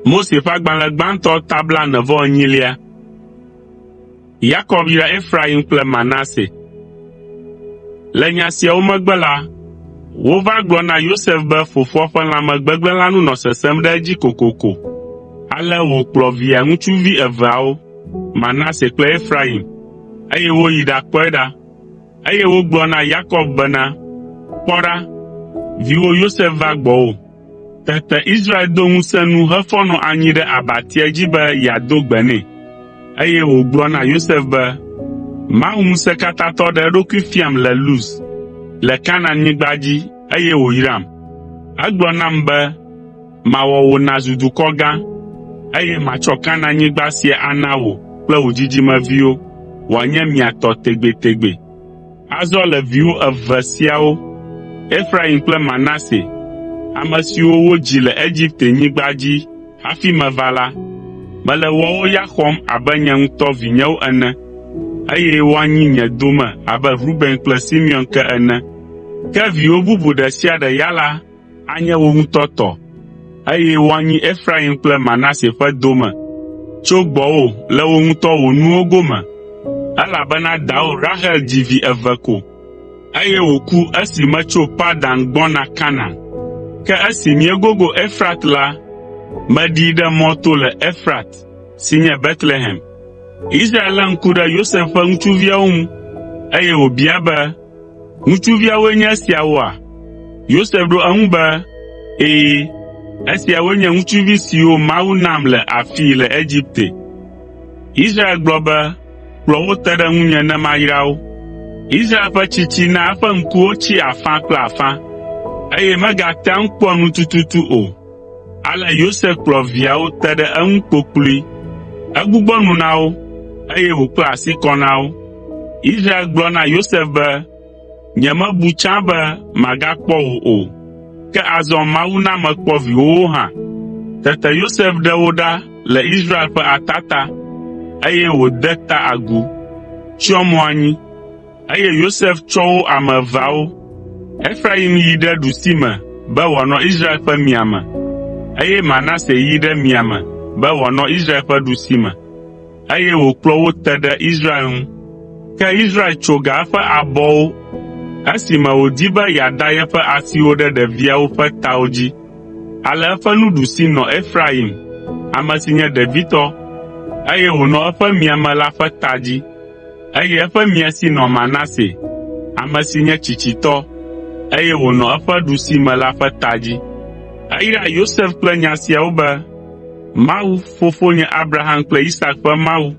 Mose ƒe agbalẽ gbãtɔ ta blaene vɔ enyilia. Yakob yra Efraim kple Manase. Le nya siawo megbe la, wova gblɔ na Yosef be fofoa ƒe lãme gbegblẽ la nu nɔ sesẽm ɖe edzi kokoko. Ale wòkplɔ via ŋutsuvi eveawo, Manase kple Efraim, eye woyi ɖakpɔe ɖa. Eye wogblɔ na Yakob bena, “Kpɔ ɖa, viwò Yosef va gbɔwò.” Tete Israel do ŋusẽ nu hefɔ nɔ anyi ɖe abatia dzi be yeado gbe nɛ, eye wògblɔ na Yosef be, “Mawu Ŋusẽkatãtɔ ɖe eɖokui fiam le Luz, le Kanaanyigba dzi, eye wòyram. Egblɔ nam be, Mawɔ wò nàzu dukɔ gã, eye matsɔ Kanaanyigba sia ana wò kple wò dzidzimeviwo wòanye mia tɔ tegbetegbe.” Azɔ le viwò eve siawo, Efraim kple Manase, ame siwo wodzi le Egipte-nyigba dzi hafi meva la, mele woawo ya xɔm abe nye ŋutɔ vinyewo ene, eye woanyi nye dome abe Ruben kple Simeon ke ene. Ke viwò bubu ɖe sia ɖe ya la, anye wò ŋutɔ tɔ, eye woanyi Efraim kple Manase ƒe dome. Tso gbɔwò le wò ŋutɔ wò nuwo gome, elabena dawò Rahel dzi vi eve ko, eye wòku esi metso Padan gbɔna Kanaan. Ke esi míegogo Efrat la, meɖii ɖe mɔ to le Efrat, si nye Betlehem.” Israel lé ŋku ɖe Yosef ƒe ŋutsuviawo ŋu, eye wòbia be, “Ŋutsuviawoe nye esiawoa?” Yosef ɖo eŋu be, “Ɛ̃, esiawoe nye ŋutsuvi siwo Mawu nam le afii le Egipte.” Israel gblɔ be, “Kplɔ wo te ɖe ŋunye ne mayra wo.” Israel ƒe tsitsi na eƒe ŋkuwo tsi afã kple afã, eye megatea ŋu kpɔa nu tututu o. Ale Yosef kplɔ viawo te ɖe eŋu kpokploe. Egbugbɔ nu na wo, eye wòkpla asi kɔ na wo. Israel gblɔ na Yosef be, “Nyemebu tsã be magakpɔ wò o, ke azɔ Mawu na mekpɔ viwòwo hã.” Tete Yosef ɖe wo ɖa le Israel ƒe atata, eye wòde ta agu, tsyɔ mo anyi. Eye Yosef tsɔ wo ame eveawo. Efrayim yi ɖe ɖusime be wòanɔ Israel ƒe miame, eye Manase yi ɖe miame be wòanɔ Israel ƒe ɖusime, eye wòkplɔ wo te ɖe Israel ŋu. Ke Israel tso ga eƒe abɔwo esime wòdi be yeada yeƒe asiwo ɖe ɖeviawo ƒe tawo dzi. Ale eƒe nuɖusi nɔ Efrayim, ame si nye ɖevitɔ, eye wònɔ eƒe miame la ƒe ta dzi. eye eƒe mia si nɔ Manase, ame si nye tsitsitɔ, eye wònɔ eƒe ɖusime la ƒe ta dzi. Eyra Yosef kple nya siawo be, “Mawu, fofonye Abraham kple Isak ƒe Mawu,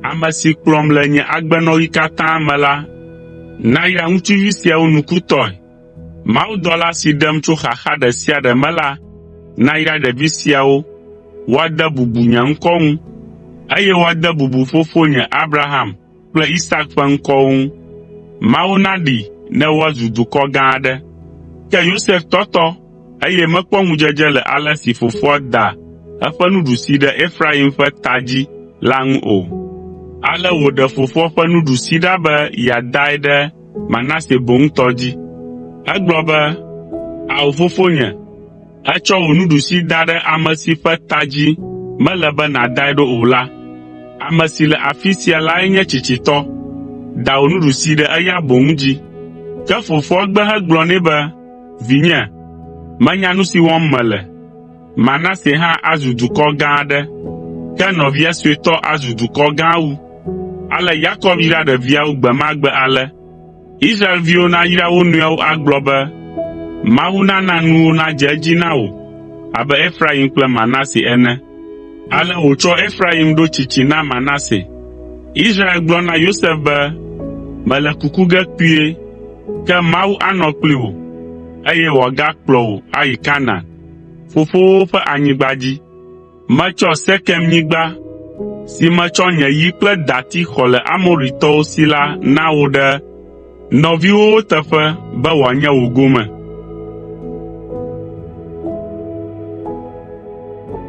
ame si kplɔm le nye agbenɔɣi katã me la, nayra ŋutsuvi siawo nukutɔe.” Mawudɔla si ɖem tso xaxa ɖe sia ɖe me la nayra ɖevi siawo woade bubu nye ŋkɔ ŋu, eye woade bubu fofonye Abraham kple Isak ƒe ŋkɔwo ŋu. Mawu naɖee ne woazu dukɔ gã aɖe.” Ke Yosef tɔtɔ, eye mekpɔ ŋudzedze le ale si fofoa da eƒe nuɖusi ɖe Efraim ƒe ta dzi la ŋu o. Ale wòɖe fofoa ƒe nuɖusi ɖa be yeadae ɖe Manase boŋ tɔ dzi. Egblɔ be, “Ao fofonye, ètsɔ wò nuɖusi da ɖe ame si ƒe ta dzi mele be nàdae ɖo o la. Ame si le afi sia lae nye tsitsitɔ. Da wò nuɖusi ɖe eya boŋ dzi.” Ke fofoa gbe hegblɔ nɛ be, “Vinye, menya nu si wɔm mele. Manase hã azu dukɔ gã aɖe, ke nɔvia suetɔ azu dukɔ gã wu. Ale Yakob yra ɖeviawo gbe ma gbe ale: Israelviwo nayra wo nɔewo agblɔ be, “Mawu nana nuwo nadze edzi na wò abe Efraim kple Manase ene.” Ale wòtsɔ Efraim ɖo tsitsi na Manase. Israel gblɔ na Yosef be, “Mele kuku ge kpuie, ke Mawu anɔ kpli wò, eye wòagakplɔ wò ayi Kanaan, fofowo ƒe anyigba dzi. Metsɔ Sekemnyigba, si metsɔ nye yi kple dati xɔ le Amoritɔwo si la na wò ɖe nɔviwòwo teƒe be wòanye wò gome.”